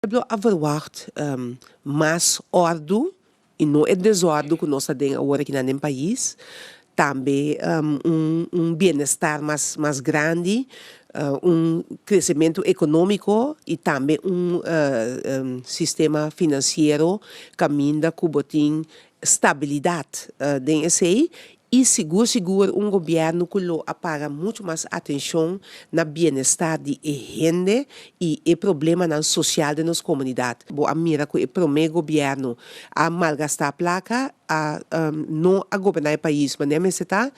pueblo a verwagt mas ordu i no e desordu ku nos ta den awor aki nan den pais, tambe un bienestar mas mas grandi, un kresementu ekonómiko i tambe un sistema finansiero kaminda ku bo tin stabilidat den esei I sigur sigur un gobierno cu lo a para mucho mas atencion na bienestar di e hende y e problemanan social den nos comunidad. Bo a mira cu e prome gobierno a malgasta placa, a no a goberna e pais manera mester ta.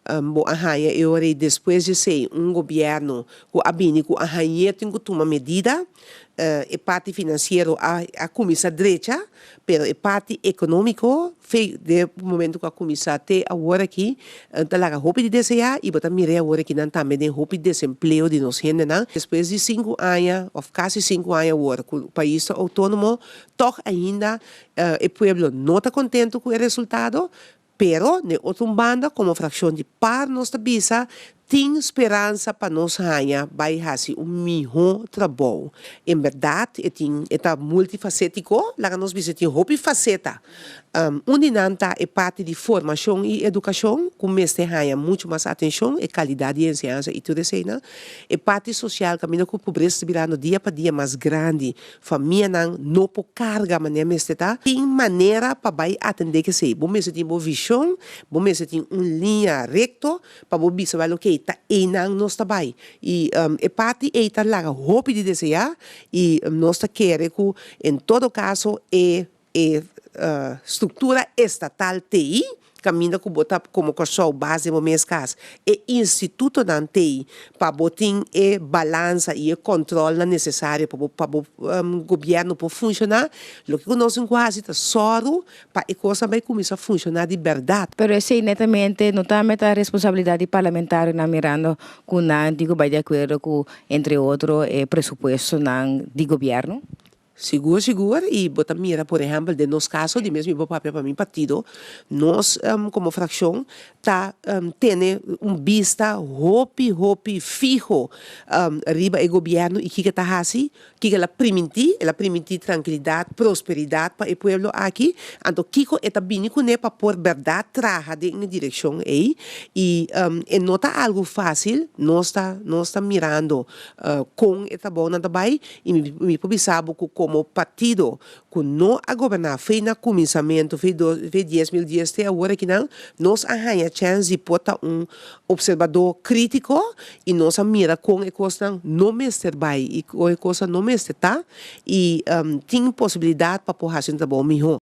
Bo a haya e ora y despues di esey un gobierno cu a bini cu a hañer tin cu tuma medida. E parti financiero a cuminsa drecha, pero e parti economico de momento cu a cuminsa te awor aki ta laga hopi di desea y bo ta mira e awor aki nan tambe den hopi desempleo di nos hendenan. Despues di cinco aña of casi cinco aña awor cu pais ta autonomo tog ainda e pueblo no ta contento cu e resultado. Pero, den otro un banda, komo frakshon di par nos ta bisa, tin speransa pa nos haña bai hasi un mihó trabou. En bèrdat, e tin, e ta multifasétiko. Laga nos bisa, e tin hopi faseta. Un di nan ta e parti di formashon i edukashon, ku mester haña muchu mas atenshon, e kalidat di enseñansa i tur eseinan. E parti sosial, kaminda ku pobresa ta birando dia pa dia mas grandi, Famianan no por carga manera mester ta. Tin manera pa bay atende kesey. Bo mester tin bo vision, bo mester tin un linea recto pa bo bisa bay loke ta eynan nos ta bay. Y e parti ey ta laga hopi di desea y nos ta kere cu en todo caso e E struktura estatal t'ei, kaminda ku bo ta komo Kòrsou base den bo mes kas, e institutonan t'ei pa bo tin e balansa i e kòntròlnan nesesario pa bo pa bo gobièrnu por funshoná, loke ku nos tin ku hasi ta sòru pa e kosnan bai kuminsá funshoná di bèrdat. Pero esei netamente no ta mester a responsabilidat di parlamentarionan mirando ku nan tin ku bai di akuerdo ku entre otro e presupuestonan di gobièrnu? Sigur sigur, i bo ta mira por ehèmpel den nos kaso, di mes mi bo papia pa mi partido, nos komo frakshon ta tene un bista hopi hopi fiho riba e gobièrnu i kiko e ta hasi, kiko el a primintí, el a primintí trankilidat, prosperidat pa e pueblo aki, anto kiko e ta bini kuné pa por bèrdat traha den e direkshon ei, i e no ta algu fásil, nos ta nos ta mirando kon e trabounan ta bai. I mi por bisa bo ku komo partido ku no a goberná fei na kuminsamentu, fei dos, fei dies mil dies te awor akinan, nos a haña chèns di por ta un opserbadó krítiko i nos a mira kon e kosnan no mester bai i kon e kosnan no mester ta i tin posibilidat pa por hasi un trabou mihó.